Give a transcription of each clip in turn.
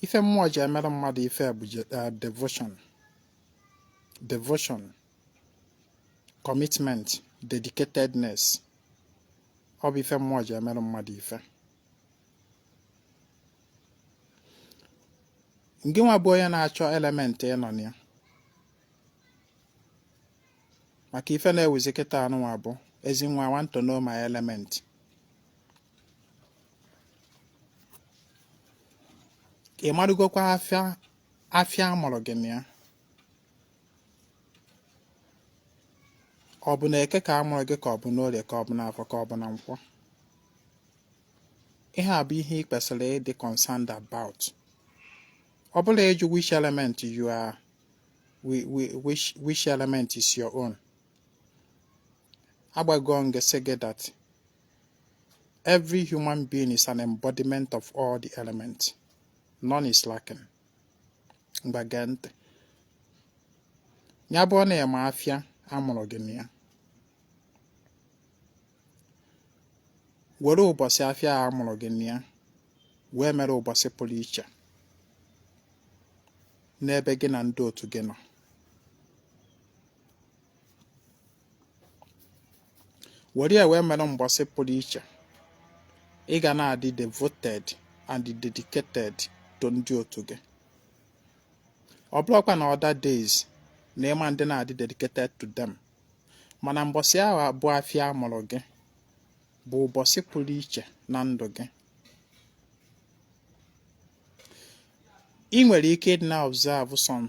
ife mmụọ ji emere mmadụ ife bụ eh, devotion devotion commitment dedicatedness ọ bụ ife mmụọ ji emere mmadụ ife Ngị nwa bụ onye na-achọ element ị nọ na ya maka ife na-ewuzi kịta anụnwa bụ ezi nwa want to know my element ị marugokwa afịa afịa a mụrụ gị na ya ọ bụ na eke ka a mụrụ gị ka ọ bụ n'orie ka ọ bụ n'afọ ka ọ bụ na nkwọ ihe a bụ ihe ị kwesịrị ịdị concerned about ọ bụrọ ịjụ which element you are which which element is your own agwago m gị sị gị that Every human being is an embodiment of all the elements. None is lacking. Ngwa gee ntị. Ya bụ na ịma afịa a mụrụ gị na ya. Were ụbọchị afịa a mụrụ gị na ya wee mere ụbọchị pụrụ iche n'ebe gị na ndị otu gị nọ. were ya wee mere mbọsị pụrụ iche ị ga na-adị devoted and dedicated to ndị otu gị ọ bụrọkwa na other days na ị ma dị na-adị dedicated to them mana mbọsị ahụ bụ afịa a mụrụ gị bụ ụbọchị pụrụ iche na ndụ gị ị nwere ike ịdị na-observe some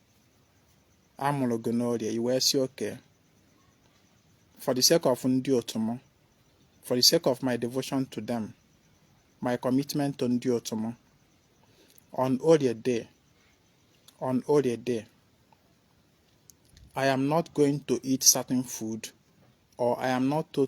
a mụrụ gị n'orie i wee sị okay for the sake of ndị otu m for the sake of my devotion to them my commitment to ndị otu m on orie day on orie day I am not going to eat certain food or I am not to,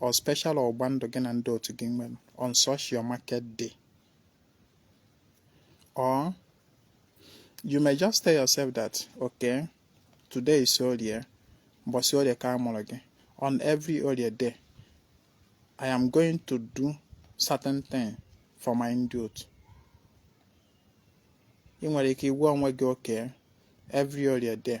or special ọgba ndụ gị na ndị otu gị nwere on such your market day or you may just tell yourself that okay today is orie mbọsị orie ka a mụrụ gị on every orie day i am going to do certain thing for my ndị otu ị nwere ike ịgwa onwe gị okay every orie day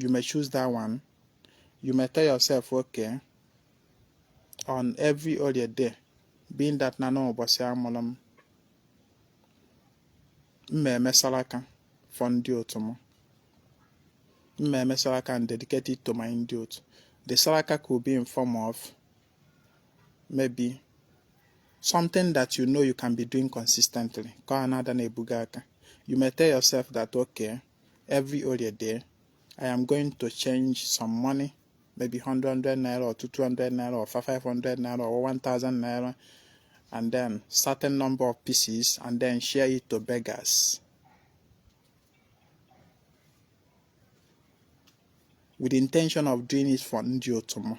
you may choose that one you may tell yourself okay on every Orie day being that na n'ụbọsị amụlụ m m ma-eme salaka for ndị otu m m ma-eme salaka and dedicated to my ndị otu the salaka could be in form of maybe something that you know you can be doing consistently. You may tell yourself that, okay, every orie day i am going to change some money maybe 100 naira or 200 naira or 500 naira or 1000 naira and then certain number of pieces and then share it to beggars with the intention of doing it for ndi otomo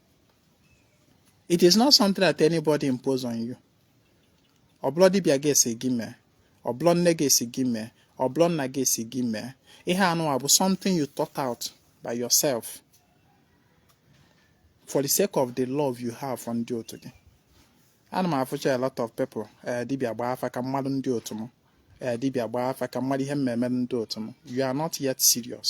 it is not something that anybody impose on you ọ bụlọ dibịa ga-esi gị mee ọ bụlọ nne ga-esi gị mee ọ bụlọ nna ga-esi gị mee ihe anụwa bụ something you thought out by yourself for the sake of the love you have for ndị otu gị ana m afụcha a lot of people eh, dibịa gbaa afa ka m malụ ndị otu m eh, dibịa gbaa afa ka m malụ ihe m ma-eme ndị otu m you are not yet serious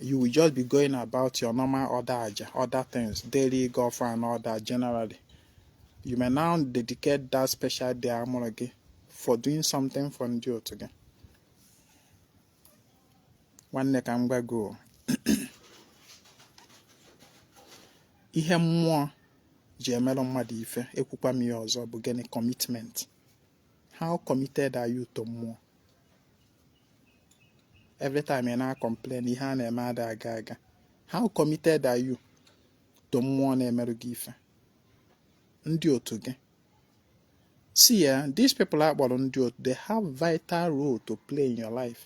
you will just be going about your normal other aja other things daily gọọ ọfọ and all that generally you may now dedicate that special day amụrụ gị for doing something for ndị otu gị nwanne ka m gwa gị ihe mmụọ ji emerụ mmadụ ife ekwukwa m ya ọzọ bụ gịnị commitment How committed are you to mmụọ? Every time ị na-complain ihe a na-eme ada aga aga. How committed are you to mmụọ na-emerụ gị ife? Ndị otu gị. See, eh, these people akpọrọ ndị otu, they have vital role to play in your life.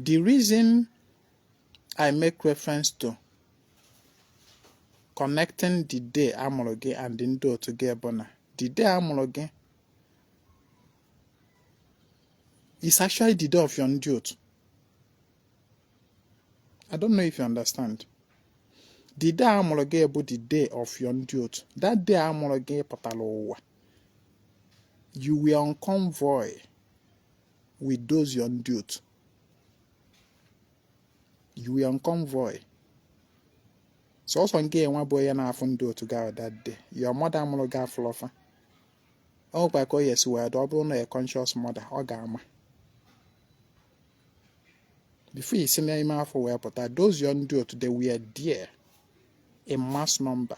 The reason I make reference to connecting the day amụrụ gị and ndị otu gị bụ na the day amụrụ gị is actually the day of your ndị otu. I don't know if you understand. The day amụrụ gị bụ the day of your ndị otu. That day amụrụ gị pụtara ụwa. You were on convoy. with those your ndị otu you were on convoy sọsọ ngịnwa bụ onye na-afụ ndị otu gị ahụ that day your mother mụrụ gị afụlọ fa ọ nwekwa ka o ya-esi wee dị ọ bụrụ na a conscious mother ọ ga-ama before i si n'ime afọ wee pụta those your ndị otu they were there in mass number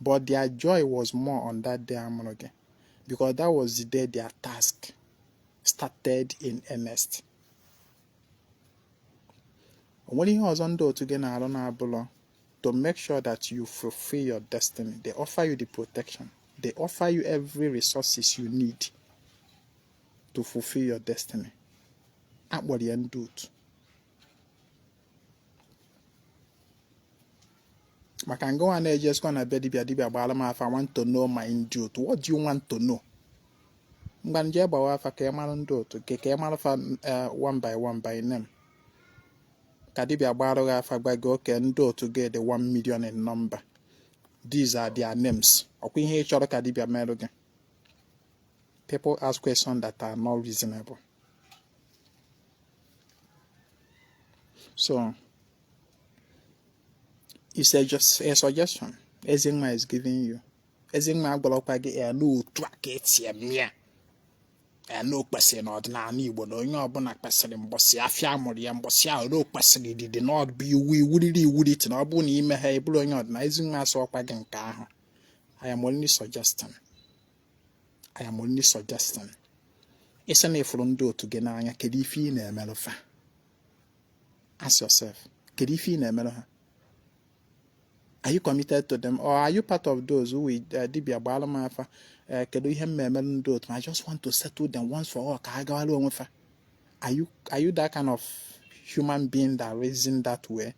but their joy was more on that day amụrụ gị because that was the day their task started in earnest o nwere ihe ọzọ ndị otu gị na-arụ na-abụlọ to make sure that you fulfill your destiny they offer you the protection they offer you every resources you need to fulfill your destiny akpọrọ ya ndị otu maka ngị nwa na-ejesikwa na be dibia dibia gbara m afa I want to know my ndị otu what do you want to know ngwa nje gbawa afa ka ị mara ndị otu gị ka ị mara fa eh, one by one by name ka dibia gbara gị afa gwa gị okay ndị otu gị dị one million in number these are their names ọkwa ihe ị chọrọ ka dibia merụ gị people ask questions that are not reasonable So it's just a suggestion. Ezema is giving you. Ezema agwalọkwa gị ya n'otu a ka eti eme ya. Ya na o kwesịrị n'ọdịnala Igbo na onye ọbụla kwesịrị mbọsị afịa a mụrụ ya mbọsị ahụ na o kwesịrị didi na ọ dị iwu iwuriri iwuriti na ọ bụrụ na ime ha ebụrụ onye ọdịnala Ezema asịrọkwa gị nke ahụ. I am only suggesting. I am only suggesting ị sị na ị fụrụ ndị otu gị n'anya kedu ife ị na-emerụ fa ask yourself kedu ife ị na-emerụ ha are you committed to them or are you part of those who will uh, dibia gbaara m afa uh, kedu ihe m na-emerụ ndị otu I just want to settle them once for all ka ha gawara onwe fa are you that kind of human being that reason that way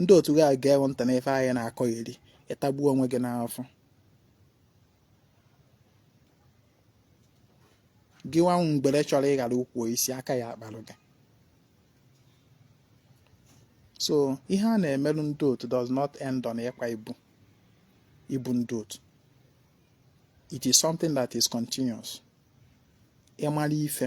ndị otu gị gewe ntị n'ife anyị na-akọ iri ị tagbuo onwe gị n'afọ gị nwa mgbere chọrọ ịghara ukwu isi aka ya akparụ gị so ihe a na-emerụ ndị otu does not end on ịkwa ibu ibu ndị otu it is something that is continuous ị mara ife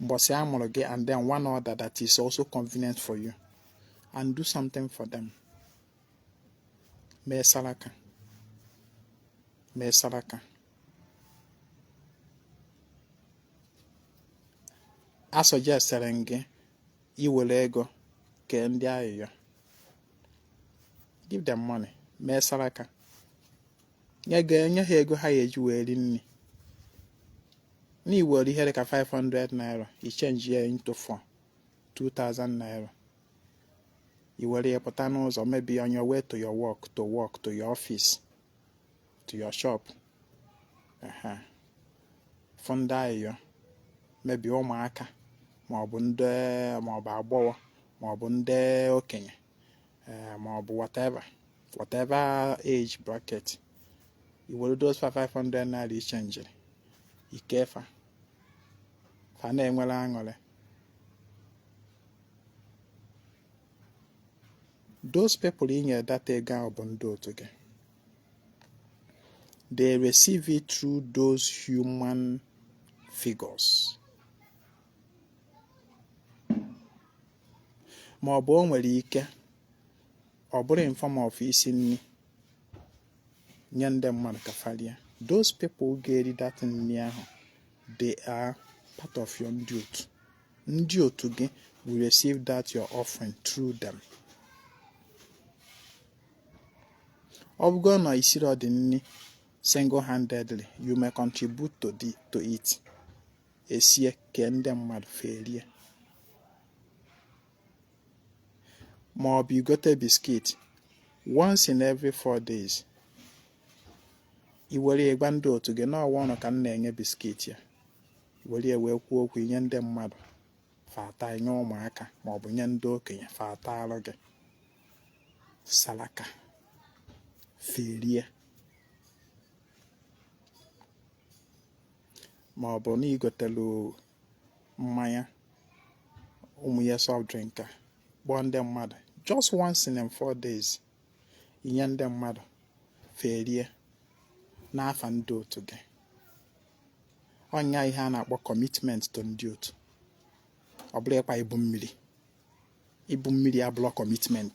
mbọsị a mụrụ gị and then one other that is also convenient for you and do something for them mee saraka mee saraka a suggestere m gị i were ego kee ndị ayịyọ give them money mee saraka nye ha ego ha ya-eji wee ri nri na i were ihe dị ka 500 naira i change ya into four 2000 naira i were ya pụta n'ụzọ maybe on your way to your work to work to your office to your shop fụ ndị ayịyọ maybe ụmụaka maọbụ ndị maọbụ agbọghọ maọbụ ndị okenye eh, ma ọ bụ whatever whatever age bracket i were those four 500 naira i changeiri i kee fa fa na-enwere aṅụrị those people ị nyere that ego ahụ bụ ndị otu gị they receive it through those human figures ma ọ bụ o nwere ike ọ bụrụ in form of isi nri nye ndị mmadụ ka fa rie those people ga-eri that nri ahụ they are part of your ndị otu ndị otu gị will receive that your offering through them ọ bụgo na i siri ọdị nri single handedly you may contribute to, the, to it esie ka ndị mmadụ fa erie ma ọ bụ i gote biskit once in every four days i were gwa ndị otu gị na ọ wụ ụnụ ka m na-enye biskit ya were wee kwuo okwu nye ndị mmadụ fa taa nye ụmụaka ma ọ bụ nye ndị okenye fa taarụ gị salaka fa erie ma ọ bụ na i gotelu mmanya ụmụ nwanya soft drink a kpọọ ndị mmadụ just once in four days i nye ndị mmadụ fa erie n'afa ndị otu gị ọ nya ihe a na-akpọ commitment to ndị otu ọ bụlọ ịkpa ibu mmiri ibu mmiri abụlọ commitment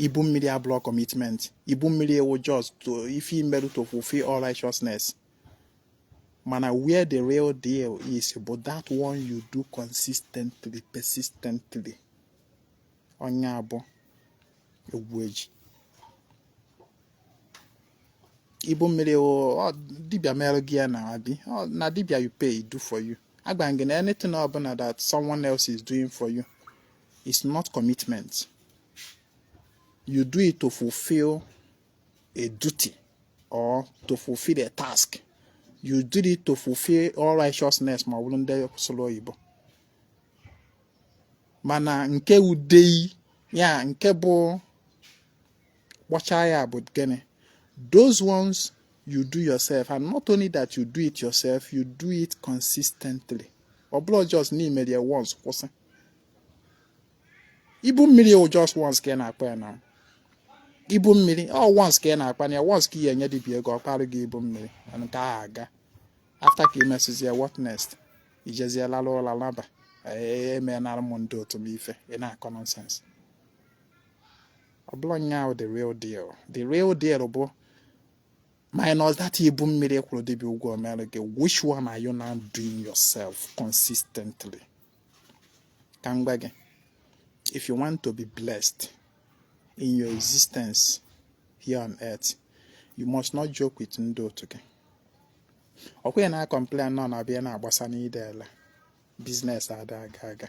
ibu mmiri abụlọ commitment ibu mmiri wụ just to ife i merụ to fulfill all righteousness mana where the real deal is bụ that one you do consistently persistently ọ nya bụ egwu eji ibu mmiri ọ wụ dibia mere gị ya na abi na dibia you pay do for you agwa m gị na anything ọbụla that someone else is doing for you is not commitment. You do it to fulfill a duty or to fulfill a task. You did it to fulfill all righteousness ma ọ bụrụ ndị sụrụ oyibo. Mana nke udei ya nke bụ ọkpọcha ya bụ gịnị? Those ones you do yourself and not only that you do it yourself, you do it consistently. Ọ bụrọ just na i mere once kwụsị. ibu mmiri wụ just once ka ị na-akpa ya na ibu mmiri ọ once ka ị na-akpa ya once ka ị ya-enye dibia ego ọ kparụ gị ibu mmiri nke a agaa after ka ị mesịzie ya what next i jezie lalụ ụla laba emenara m ndị otu m ife ị na-akọ nonsense ọ bụlọ nya wụ the real deal the real deal bụ minus that ibu mmiri i kwụrụ dibịa ụgwọ mere gị which one are you now doing yourself consistently ka m gwa gị if you want to be blessed in your existence here on earth you must not joke with ndị otu gị ọkwa ya na-akọmplen nọ na abịa na-agbasa n'ide ala business ada aga aga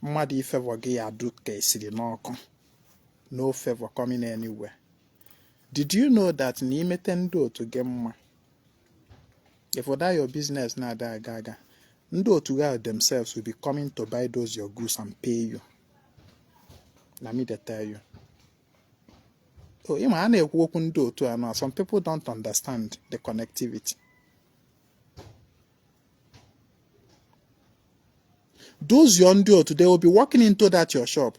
mmadụ ifevọ gị ya du ka esiri n'ọkụ no favor coming anywhere Did you know that na imete ndị otu gị mma if that your business na-ada aga aga ndị otu gị themselves will be coming to buy those your goods and pay you na me dey tell you so ịma a na-ekwu okwu ndị otu a na some people don't understand the connectivity those your ndị otu they will be walking into that your shop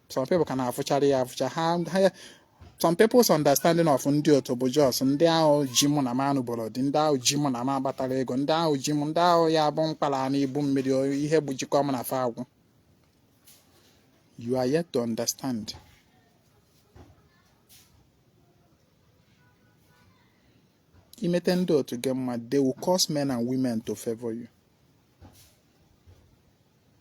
some people ka na-afụchara ya afụcha ha some people's understanding of ndị otu bụ just ndị ahụ ji mụ na m anụboro di ndị ahụ ji mụ na m agbatara ego ndị ahụ ji mụ ndị ahụ ya bụ m kpara na ibu mmiri ihe bụ jikọ m na fa agwụ you are yet to understand imete ndị otu gị mma they will cause men and women to favor you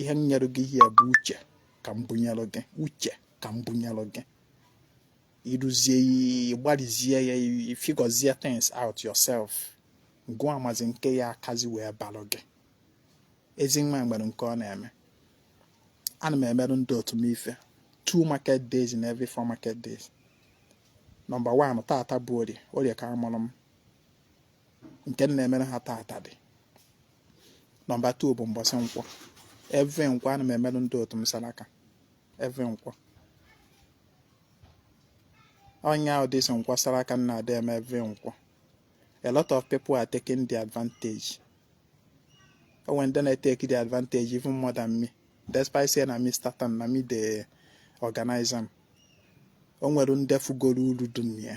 ihe m nyere gị here bụ uche ka m bunyere gị uche ka m bunyere gị i ruzie i gbarizie ya figọzie things out yourself gụwa amazi nke ya akazi wee balụ gị Ezinwa nwere nke ọ na-eme ana m emerụ ndị otu m ife two market days in every four market days nọmba one tata bụ orie orie ka amụrụ m nke m na-emere ha taata dị nọmba 2 bụ mbọsị nkwọ every nkwọ ana m emerụ ndị otu m salaka every nkwọ ọ nya bụ this nkwọ salaka m na-adị eme every nkwọ a lot of people are taking the advantage o nwere ndị na-eteki the advantage even more than me despite say na me start am na me dey organize am o nwere ndị fugoro uru dụ na ya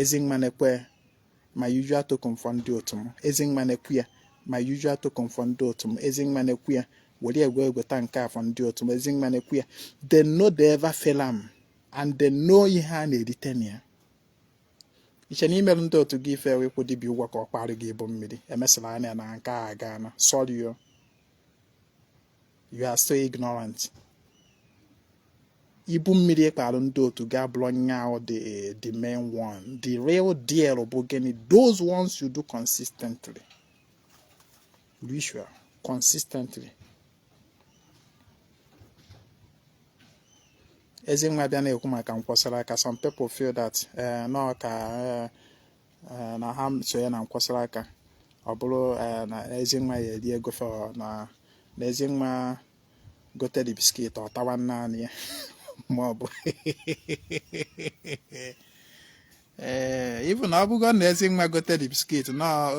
Ezinwa nekwa my usual token for ndị otu m Ezinwa nekwa my usual token for ndị otu m Ezinwa nekwa were egwe egweta nke a for ndị otu m Ezinwa nekwa they no dey ever fail am and they know ihe a na-erite na ya i che na imerụ ndị otu gị ife ịkwụ dibịa ụgwọ ka ọ kpara gị ibu mmiri emesịla anya na nke a gaana sorry o you are so ignorant ibu mmiri kpalụ ndị otu gị abụrọ nya the the main one the real deal bụ gịnị those ones you do consistently be sure consistently Ezinwa bịa na-ekwu maka Nkwọ saraka some people feel that eh, nọ ka eh, eh, na ha so ya na Nkwọ saraka ọ bụrụ eh, na Ezinwa ya eri ego fa na Ezinwa gote the biscuit ọ tawa naanị ya ma ọ bụ even ọ bụgo na Ezinwa gote the biscuit na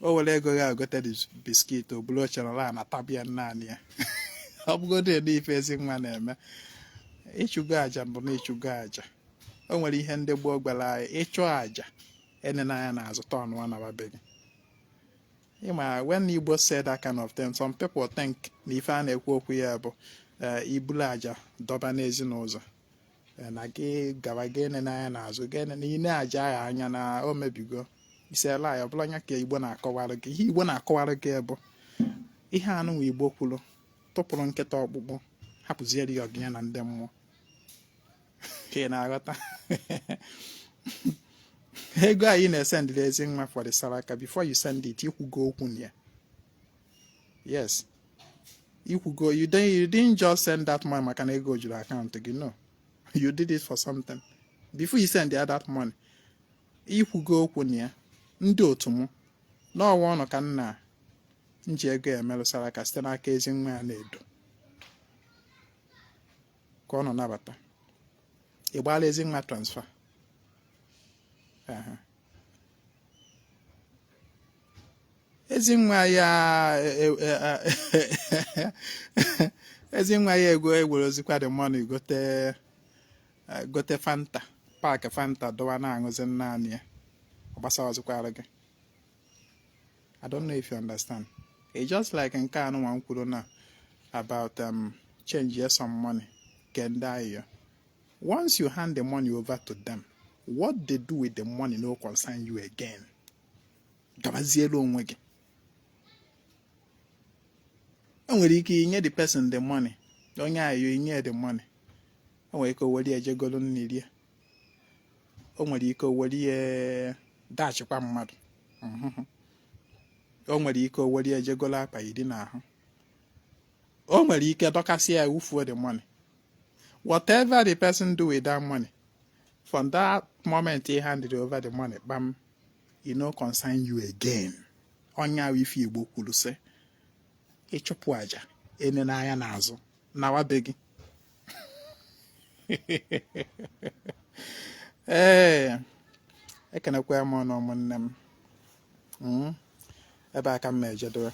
o were ego ya gote the biscuit o buru oche nọlụ na-atabia naanị ya ọ bụgodu na ife Ezinwa na-eme ị chụgo aja mbụ na ị chụgo aja o nwere ihe ndị gboo gwara anyị ị chụa aja enena anya na azụ tọnụọ naba be gị ịma when Igbo said that kind of thing some people think na ife a na-ekwu okwu ya bụ eh, ibulu aja dọba n'ezi n'ụzọ eh, na gị gaba gị enene anya na azụ gị enene i nee aja ahụ anya na o mebigo is a lie ọ bụrọ nya ka Igbo na-akọwara gị ihe Igbo na-akọwara gị bụ ihe anụnwa Igbo kwuru tụpụrụ nkịta ọkpụkpụ hapụziere ya ọgụ nya na ndị mmụọ ka ị na-aghọta ego anyị na-esendịrị Ezinwa for the saraka before you send it i kwugo okwu na ya yes i kwugo you didn't just send that money maka na ego juru akaụntụ gị no you did it for something before you send ya that money i kwugo okwu na ya ndị otu m n'ọwa ụnụ ka nna m ji ego ya emerụ saraka site n'aka Ezinwa Anaedo ka ụnụ nabata ị gbaala Ezinwa transfer Ezinwa ya e, e, e, Ezinwa ya ego ewerezikwa the money gote gote Fanta pack Fanta dọwa na-aṅụzi naanị ya ọ gbasazikwarọ gị I don't know if you understand it's just like nke anụnwa m kwuru na about um, change ya some money kee ndị ayọ once you hand the money over to them what they do with the money no concern you again gabazielu onwe gị o nwere ike i nye the person the money onye ayọ i nye the money o nwere ike o were je golu nni rie o nwere ike o were ya dashịkwa mmadụ o nwere ike o were ya jee golo akwa yiri n'ahụ o nwere ike dọkasị ya wufuo the money whatever the person do with that money from that moment he handed over the money kpam e no concern you again ọ nya wụ ife igbo kwuru sị ị chụpụ aja enena anya n'azụ nawa be gị ee eh, ekenekwa m ụnụ ụmụnne m hmm? ebe a ka m na-ejedowe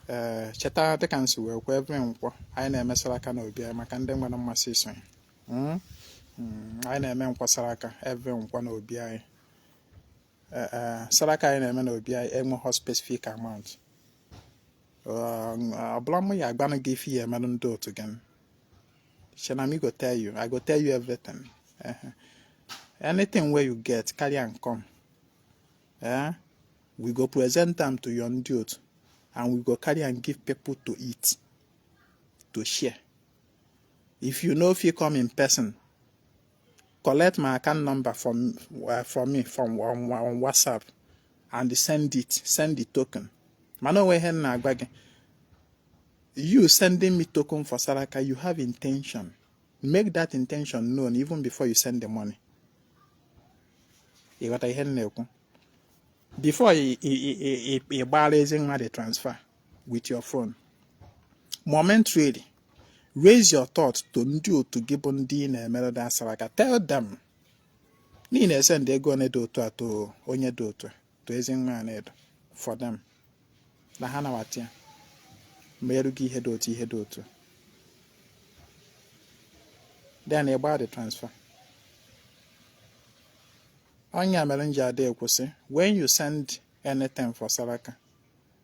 ee eh, cheta dịka m si wee kwuo every nkwọ anyị na-eme saraka n'obi anyị maka ndị nwere mmasị isonye hmm? Hmm, anyị na-emekwa saraka every nkwọ n'obi anyị eh, eh, saraka anyị na-eme n'obi anyị enweghị specific amount ọ bụla mụ ya-agwanụ gị ife ị ya-emerụ ndị otu gị shey na me go tell you i go tell you everything anything wey you get carry am come eh? we go present am to your ndị otu and we go carry am give people to eat to share if you no fit come in person collect my account number from uh, from me from on, on WhatsApp and send it send the token mana o nwe ihe m na-agwa gị you sending me token for Saraka you have intention make that intention known even before you send the money ị ghọta ihe m na-ekwu before ị gbaara Ezinwa the transfer with your phone momentarily raise your thought to ndị otu gị bụ ndị ị na-emere the saraka tell them na ị na-esend ego one dị otu a to onye dị otu to Ezinwa Anaedo for them na ha nawata ya meerụ gị ihe dị otu ihe dị otu then ị gbaa the transfer ọ nya mere m ji ada ekwu sị when you send anything for saraka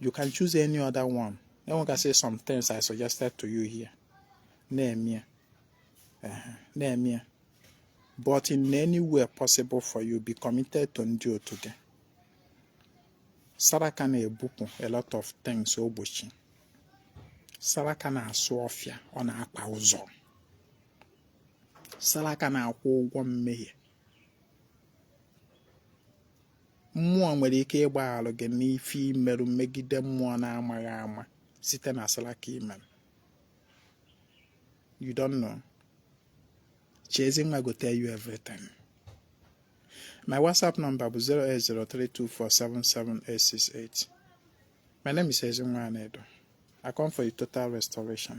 you can choose any other one e nwekasị some things i suggested to you here na-eme ya na-eme ya but in any way possible for you be committed to ndị otu gị saraka na-ebupụ a lot of things ogbochi saraka na-asụ ọfịa ọ na-akpa ụzọ saraka na-akwụ ụgwọ mmehie mmụọ nwere ike ịgbaghalụ gị n'ife i merụ megide mmụọ na-amaghị ama site na salaka i merụ you don't know shey Ezinwa go tell you everything my whatsapp number bụ 08032477868 my name is Ezinwa Anaedo I come for a total restoration